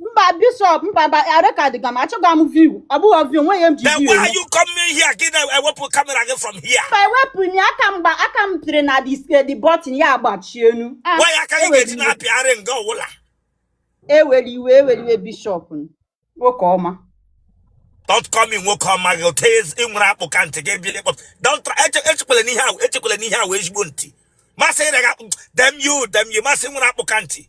mba bishọp mba mba arekọdịga m achọghị m viu ọ bụghị viu nwe ya m ji Then viu why are you coming here? Get that ewepụ camera gị from here. mba ewepụ m ya aka mgba aka m pịrị na the button ya agbachie enu Ah, Why aka gị ewere ga-eji iwe na-apịgharị nga ọwụla? ewela iwe ewela iwe bishọp m. nwoke ọma Don't call me nwoke ọma gị ghọta sị nwere akpụ ka ntị gị bịa ịkpọ. Don't try eche- echekwala n'ihe ahụ echekwala n'ihe ahụ ezigbo ntị. Ma sị ịrịa gị akpụ damn you damn you ma sị nwere akpụ ka ntị.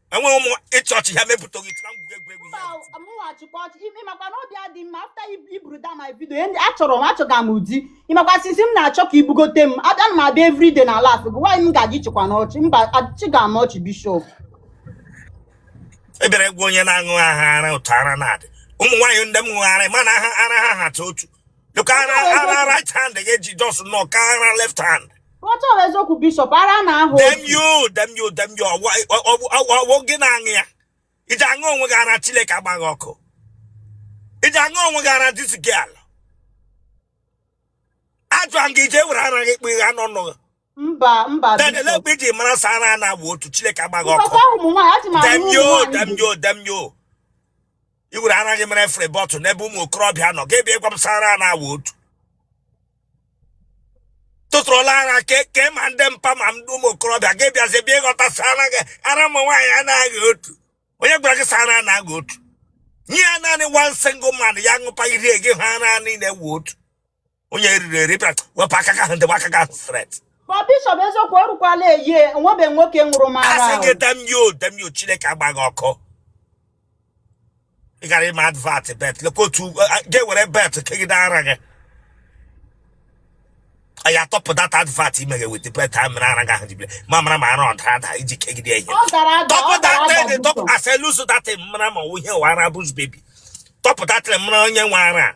enweghị ụmụ ịchị ọchị ha mepụta gị tụra ngwugwu egwuregwu ihe a ga-eti. mụghachikwa ọchị ịmakwa na obi adị mma after i buru down my video achọrọ m achọga m ụdị ịmakwa sisi m na-achọ ka i bugote m abịa m abịa everyday na laugh gị why m ga-eji chịkwanụ ọchị mba achịga m ọchị bishọp ebe gị wụ onye na-aṅụ aha ara otu ara na-adị ụmụ nwaanyị ndị nwe ara ma na ara ha hata otu You can ara right hand again, just no kara left hand. What ọ wụ eziokwu Bishop? Ara na-aha. Damn you, damn you, damn you. Ọ wụ gị na-aṅụ ya. I ji aṅụ onwe gị ara Chineke agba gị ọkụ. I ji aṅụ onwe gị ara this girl. A jụọ gị i ji were ara gị kpụ ya n'ọnụ mba mba then elee mgbe i ji mara sị ara na-awụ otu chineke agba gị ọkụ damn you damn you damn you i were ara gị mere free bottle n'ebe ụmụ okorobịa nọ gị abịa ịgwa m sị ara na-awụ otu tụtụrụla ara kee ma ndị mpa ma ndị ụmụ okorobịa gị abịazie bịa ịghọta sị ara gị ara ụmụ nwaanyị na-awụ otu onye gwara gị sị ara na-awụ otu nye ya naanị one single man ya ṅụpa iri gị ha ara niile wụ otu onye eriri eri bịara wepụ aka gị ahụ dowe aka gị ahụ straight ma bishọp eziokwu o rukwala a year enwebe nwoke ṅụrụ m ara asị ahụ gị damn you damn you chineke agba gị ọkụ ị gara ime advert belt lekwa otu gị were belt kegide ara gị anyị atọpụ that advert i meghe with belt a mere ara gị ahụ jibile ma mara ma ara ọ dara ada i ji kegide ya ihe ọ dara ada ọ tọpụ dara that ada dị tọpụ bishọp. a sị loose that m mara ma ihe ọ wụ ara bush baby tọpụ that m mara onye nwe ara a.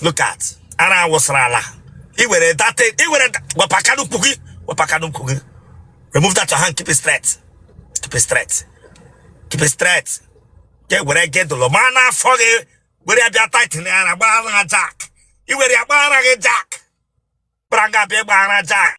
look at ara awụsara ala i were that i were wepụ aka n'ukwu gị wepụ aka n'ukwu gị remove that your hand keep it straight keep it straight keep it straight gị ewere girdle maa n'afọ gị were ya bịa tighten ya gbaa ara jack i were ya gbaa ara gị jack kpara nga bịa gbaa ara jack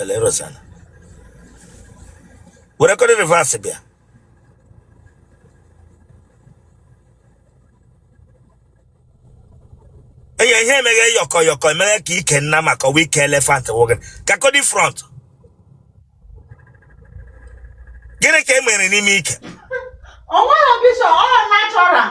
Otele a. Were kọdị reverse bịa. Hey ihe emeghe yọkọ yọkọ emeghe ka ike nnama ka ọ wụ ike elephant nwoke. Ka kọdị front. Gịnị ka e mere n'ime ike? O nweghị bishop, ọ natural.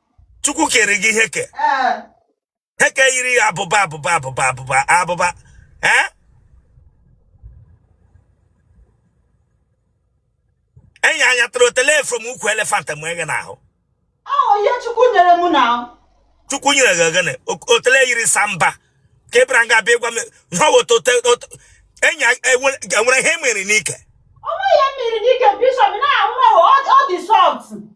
chukwu kere gị ihe ke ihe ke yiri abụba abụba abụba abụba abụba ee enyi anya tụrụ otele from ukwu elephant m eghe n'ahụ ihe chukwu nyere m na chukwu nyere gịnị otele yiri samba ka ị bịara nga bịa gwa m ihe ọwụta enyi enwere ihe mere n'ike onwe ihe mere m n'ike bishọp now ọ dị soft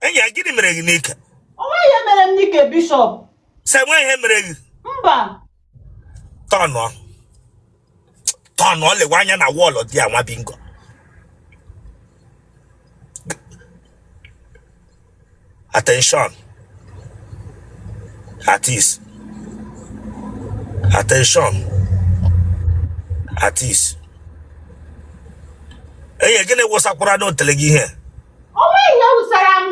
enyi a gịnị mere gị n'ike onwe ihe mere m n'ike bishọp sị enwe ihe mere gị mba tọnụọ tọnụọ lewe anya na wall there nwa bingo attention at ease attention at ease enyi gịnị wụsakwara na otele gị ihe onwe ihe wụsara m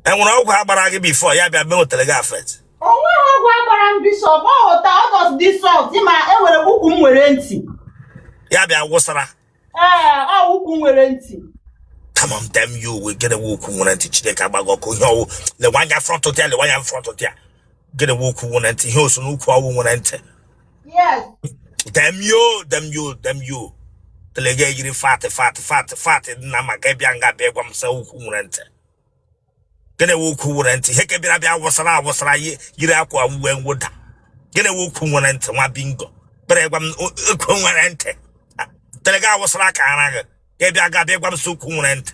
enwere ọgwụ a gbara gị before ya bịa mee otele gị affect onwe ha ọgwụ a gbara m bishọp ọ ghọta ọ just dị soft ma enwere m ukwu nwere ntị ya bịa wụsara ee ọ ukwu nwere ntị come on damn you gịnị wụ ukwu nwere ntị chineke agbaa gị ọkụ ihe ọwụ lewe anya front there lewe anya front there gịnị wụ ukwu nwere ntị ihe ọ sị n'ukwu ọwụ nwere ntị yes damn you damn you damn you otele gị a yiri fatị fatị fatị fatị dị nama ka ị bịa nga bịa gwa m sị ukwu nwere ntị gịnị wụ ukwu nwere ntị ihe ke bịara bịa wụsara awụsara yi- yiri akwa uwe mwụda gịnị wụ ukwu nwere ntị nwa bingo bere gwa m o- ukwu nwere ntị Ah, otele gị a wụsara ka ara gị ka ị bịa nga bịa gwa m sị ukwu nwere ntị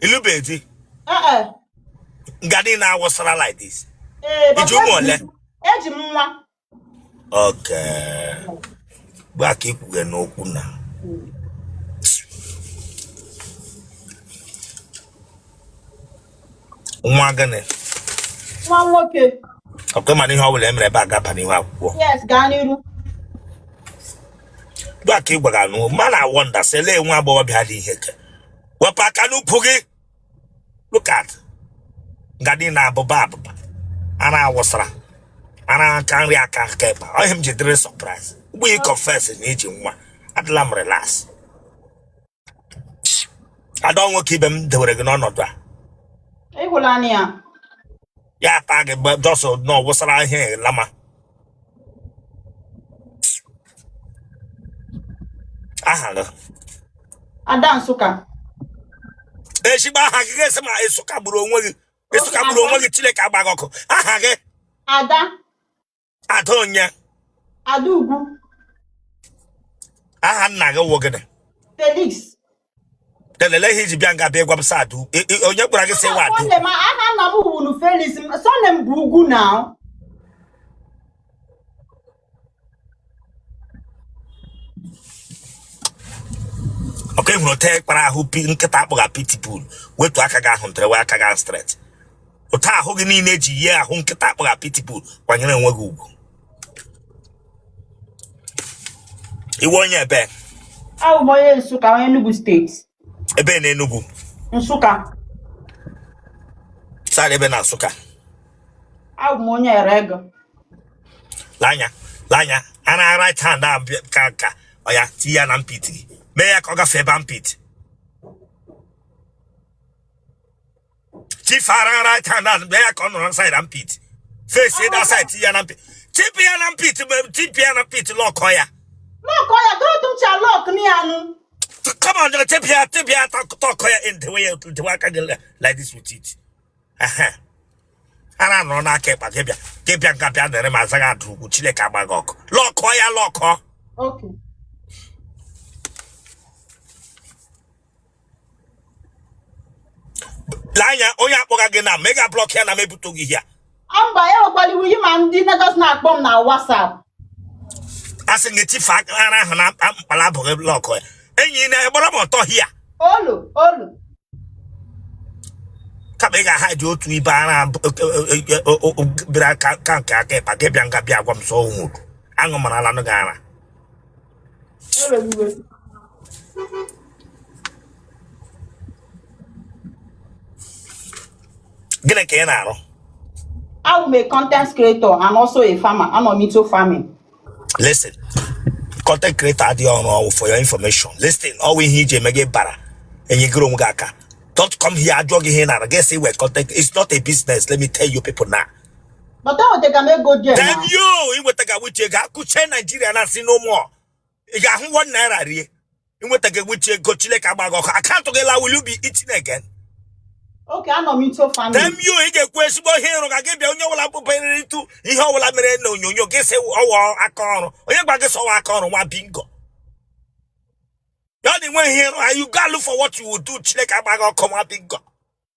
ilube di ee e. nga dị na-awụsara like this ee iji papa ụmụ eji ole m eji m nwa oke gba ka ikwughe n'okwu na nwa gịnị nwa nwoke okay mana ihe ọ bụla emere ebe a ga-aba n'ihu akwụkwọ yes gaa n'iru gba ka ị gwara n'o m na-awonder sị lee nwa agbọghọbịa dị ihe ke wepụ aka n'ukwu gị look at nga dị na abụba abụba ara awụsara ara aka nri aka aka ịkpa ọ ihe m ji dịrị surprise ugbu ị confess na ị ji nwa adịla m relax ada ọ nwoke ibe m dewere gị n'ọnọdụ a ịhụlanị ya ya taa gị just na ọ wụsara ihe lama aha gị ada nsụka ezigbo aha gị ga-esi ma nsụka gburu onwe gị nsụka gburu onwe gị chineke agbaa gị ọkụ aha gị ada ada onye ada ugwu aha nna gị wụ gịnị felix delele ihe iji bịa nga bịa gwa m sị adu I- i- onye gwara gị sị wa adu Nwanne m aha nna m wuru Felix m surname m bụ ugwu na okay ị hụrụ otu e kpara ahụ pi nkịta akpọga pitbull wetu aka gị ahụ ndịrị wee aka gị ahụ straight otu ahụ gị niile ji yie ahụ nkịta akpọga pitbull kwanyere onwe gị ugwu ị wụ onye ebee abụ m onye nsụka onye enugu state ebee na enugu nsụka side ebee na nsụka abụ m onye ere ego lee anya lee anya a na right hand a bịa- ka ka oya tinye ya na armpit gị mee ya ka ọ gafee ebe armpit chief ara right hand a mee ya ka ọ nọrọ side armpit face ịda side ya na armpit chip ya na armpit chip ya na armpit lọkọ ya Look, all you don't do your look, me and come on just chip ya chip ya tọkọ ya ị dewe dewe aka gị like this with it Aha. ara nọrọ n'aka ịkpa gị bịa gị bịa nga bịa dere ma azaghị adụ ugwu chineke agba gị ọkụ lọkọ ya lọkọ okay. anya onye akpọga gị na ma ị ga-ablọk ya na m ebuto gị ya mba ya nwekwara iwu yi ma ndị Lagos na-akpọ m na WhatsApp asị gị chief ara ahụ na mkpala abụghị blọk ya enyi na gbara m ọtọ here olu olu kama ị ga-aha ji otu ibe ara bịara ka nke aka ịkpa gị bịa nga bịa gwa m sị ọ wụrụ aṅụ mara ala nụ gị ara gịnị ka ị na-arụ abụ m a content creator and also a farmer anọ m into farming listen content creator awụghị ọrụ ọ wụ for your information listen ọ wụ ihe e ji eme gị bara enyegoro onwe gị aka don't come here a jụọ gị ihe ị na-arụ gị sị ọ wụ content it's not a business let me tell you people now but enwetaga m ego dị then you i nwetaga which ego a kụchie Nigeria na-asị no more ị ga-ahụ one naira rie i nwetaga which ego chileke agba gị ọkụ account gị laa will you be eating again okay anọ m into farming then you ị ga-ekwu ezigbo ihe ịrụ ka gị bịa onye ọbụla bụbanyere ịtụ ihe ọbụla mere na onyonyo gị sị ọ wụ aka ọrụ onye gwa gị sị ọ wụ aka ọrụ nwa bingo ya na inwe ihe ịrụ you go look for what you will do chineke agba gị ọkụ nwa bingo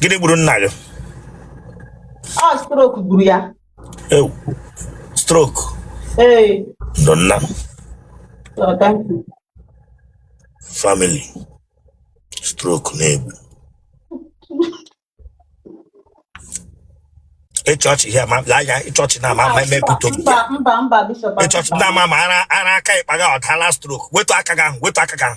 gịnị gburu nna gị ọ stroke gburu ya ewoo stroke ee ndo nna m so thank you family stroke na-egbu ịchọọchị ihe ma lee anya ịchọọchị na ama ama mba emepụta obi mba mba mba bishop ịchọọchị na ama ama ara ara aka ịkpa gị adala stroke wetu aka gị ahụ wetu aka gị ahụ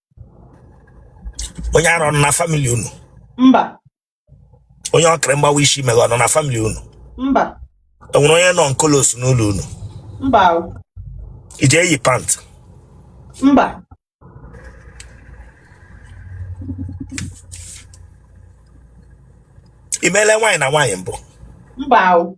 onye ara ọ nọ na famili unu mba onye ọkịrị mgbawa isi meghe ọ nọ na famili unu mba enwere onye nọ on colos n'ụlọ unu mba o, ị ji eyi pant mba i meele nwaanyị na nwaanyị mbụ mba o,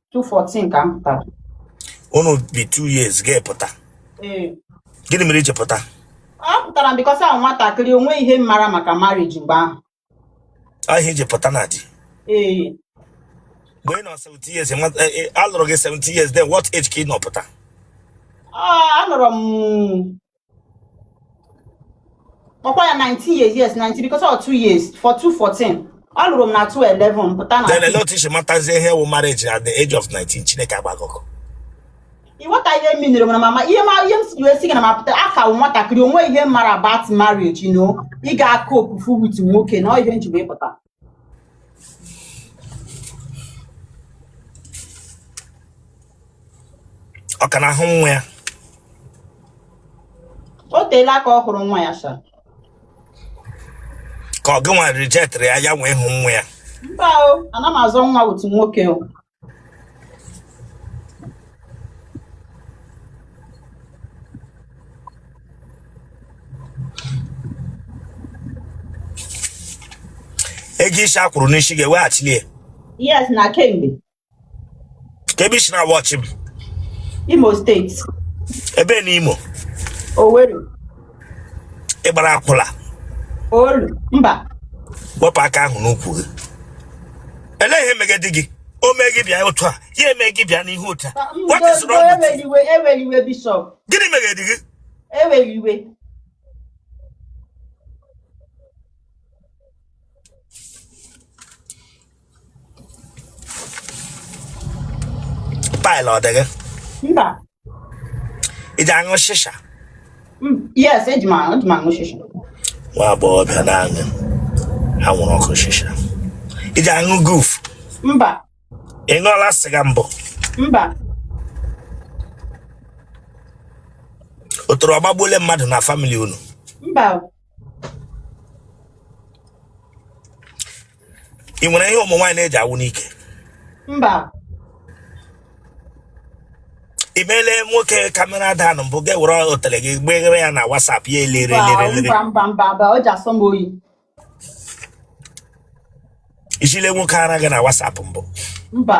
214 ka m pụtara unu bi two years gị apụta ee gịnị mere i ji pụta apụtara m bikọs awụ m nwatakịrị o nweghị ihe m mara maka marriage mgbe ahụ ọ ihe a i ji pụta na di ee mgbe ị nọ 17 years nwa- eh, eh, a lụrụ gị 17 years then what age ka ị nọ pụta Ọ, anọrọ m ọkwa ya 19 years yes 19 because ọ 2 years for 214 ọ lụrụ m na 211 pụta na then elee otu i si matazie ihe wụ marriage at the age of 19 chineke agba gị ọkụ ị ghọta ihe m minere mana mama ihe ma ihe m ji wee sị gị na m apụta aka m wụ nwatakịrị o nweghị ihe m mara about marriage you know ị ga-acopefu wit nwoke na ọ ihe m ji wee pụta ọ ka na-ahụ nwa ya o teela ka ọ hụrụ nwa ya sha ka ọ gị nwa rijektịrị ya ya wee hụ nwa ya mba o ana m azọ nwa wit nwoke o ego isi a kwụrụ n'isi ga-eweghachili ya yes na kemgbe kee ebe i si na wọchị m imo steeti ebe na imo owerri ị gbara akwụla mba wepụ aka ahụ n'ukwu gị elee ihe megedi gị o mee gị bịa otu a ya eme gị bịa n'ihu otu a gịnị megedi gị paịlụ ọ dị gị mba ị ji aṅụ shisha Mm, yes eji m aṅụ eji m aṅụ shisha nwa agbọghọbịa na-aṅụ anwụrụ ọkụ shisha ị ji aṅụ guf mba ị ṅụọla sịga mbụ mba otoro ọ gbagbuole mmadụ na famili unu mba ị nwere ihe ụmụ nwaanyị na-eji awụ n'ike mba i meele nwoke kamera daụn mbụ gị ewere otele gị gbeghere ya na wasap ya elere elere i ziile nwoke ara gị na wasap mbụ mba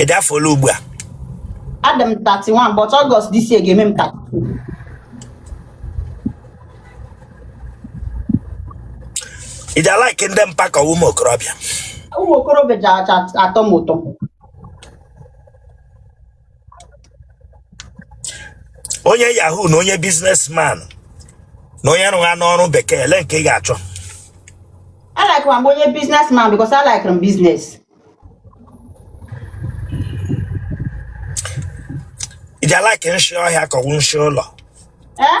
ị dị afọ ole ugbu a adị m 31 but August this year ga-eme m 32 ị ji alike ndị mpa ka ụmụ okorobịa ụmụ okorobịa ji aka atọ m ụtọ onye yahoo na onye businessman na onye rụgha n'ọrụ bekee ele nke ị ga-achọ I like m onye businessman because I like m business. ị ji alike nshi ọhịa ka ọ wụ nshi ụlọ Eh?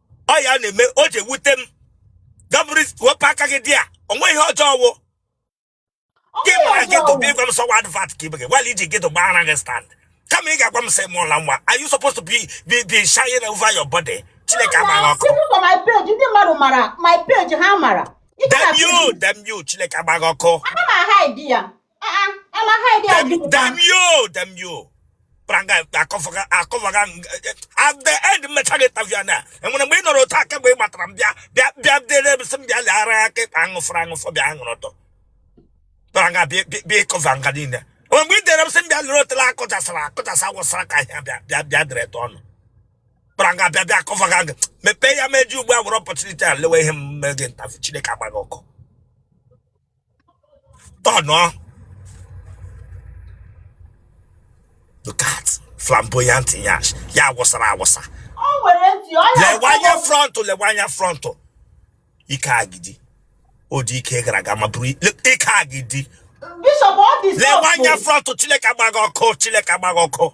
ọ ya na-eme o ji ewute m gabụrụ wepụ aka gị dị ya o nweghị ihe ọjọọ ọ wụ gị mara gị dobe ịgwa m sọwa advert ka ibe gị gwala iji gị dobe ara gị stand kama ị ga-agwa m sị mụọla nwa are you supposed to be be be shying over your body chineke agbaghị ọkụ my page ndị mmadụ mara my page ha mara damn you damn you chineke agbaghị ọkụ ana m ahide ya damn you damn you pranga akọfaga akọfaga at the end m mechaa gị interview na e nwere mgbe ị nọrọ otu aka mgbe ị gbatara m bịa bịa bịa dere m sị m bịa leghara ya ka ịkpa aṅụfụrụ aṅụfụ bịa aṅụrụ ọtọ pranga bịa ịkọva nga niile o nwe mgbe ị dere m sị m bịa lere otele akụchasara akụchasa wụsara ka ahịa bịa bịa bịa dere tọ ọnụ pranga bịa bịa akọfaga gị mepee ya meji ugbu a were opportunity a lewe ihe m mee gị ntafu chineke agbaghị ọkụ tọnụọ look at flamboyant nyash ya awụsara awụsa o nwere ntị ọya lewe anya frontụ lewe anya frontụ ike agidi ọ dị ike gara aga ma buru i- le- ike agidi bishop ọ dị lewe anya sọfụ frontụ chineke agbaghị ọkụ chineke agbaghị ọkụ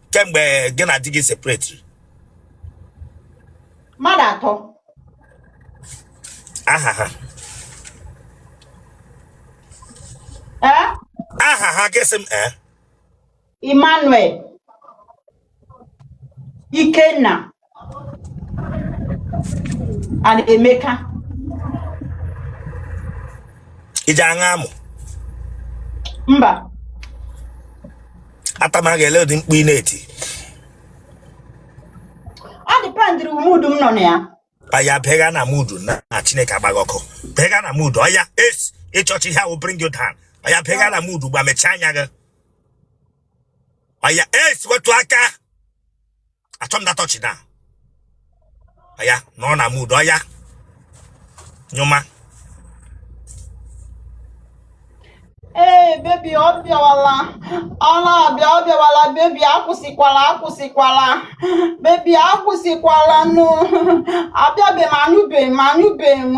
kemgbe gị na di gị separate mmadụ atọ aha ha ee aha ha gịsị m ee emmanuel ikenna and Emeka ị ji aṅụ amụ mba atama ga-ele ụdị mkpu ị na-eti ọ dependiri mood m nọ na ya ọya bega na mood na chineke agbaghị ọkụ bega na mood ọya yes ịchọcha ihe ahụ bring you down ọya bega na mood gba mechaa anya gị ọya yes wetu aka achọ m that touch na ọya nọọ na mood ọya nyụma ee baby ọ bịawala ọ na-abịa ọ bịawala baby akwụsịkwala akwụsịkwala baby akwụsịkwala nụ abịabeghị m anyụbeghị m anyụbeghị m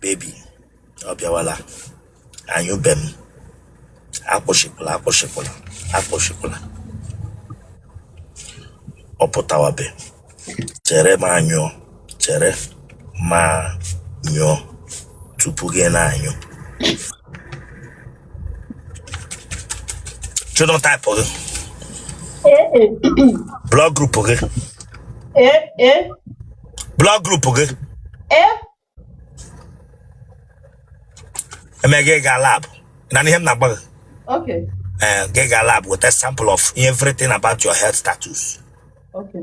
baby ọ bịawala anyụbe m akwụsịkwala akwụsịkwala akwụsịkwala ọ pụtawabe chere ma nyụọ chere ma nyụọ tupu gị na-anyụ genotype gị blood group gị blood group gị eme gị gaa lab na ihe m na-agwa gị gị gaa lab weta sample of everything about your health status okay.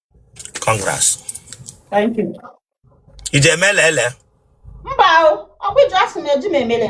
congrats Thank you. i ji emele ele Mba o, ọ bụ iji asị na eji m emele.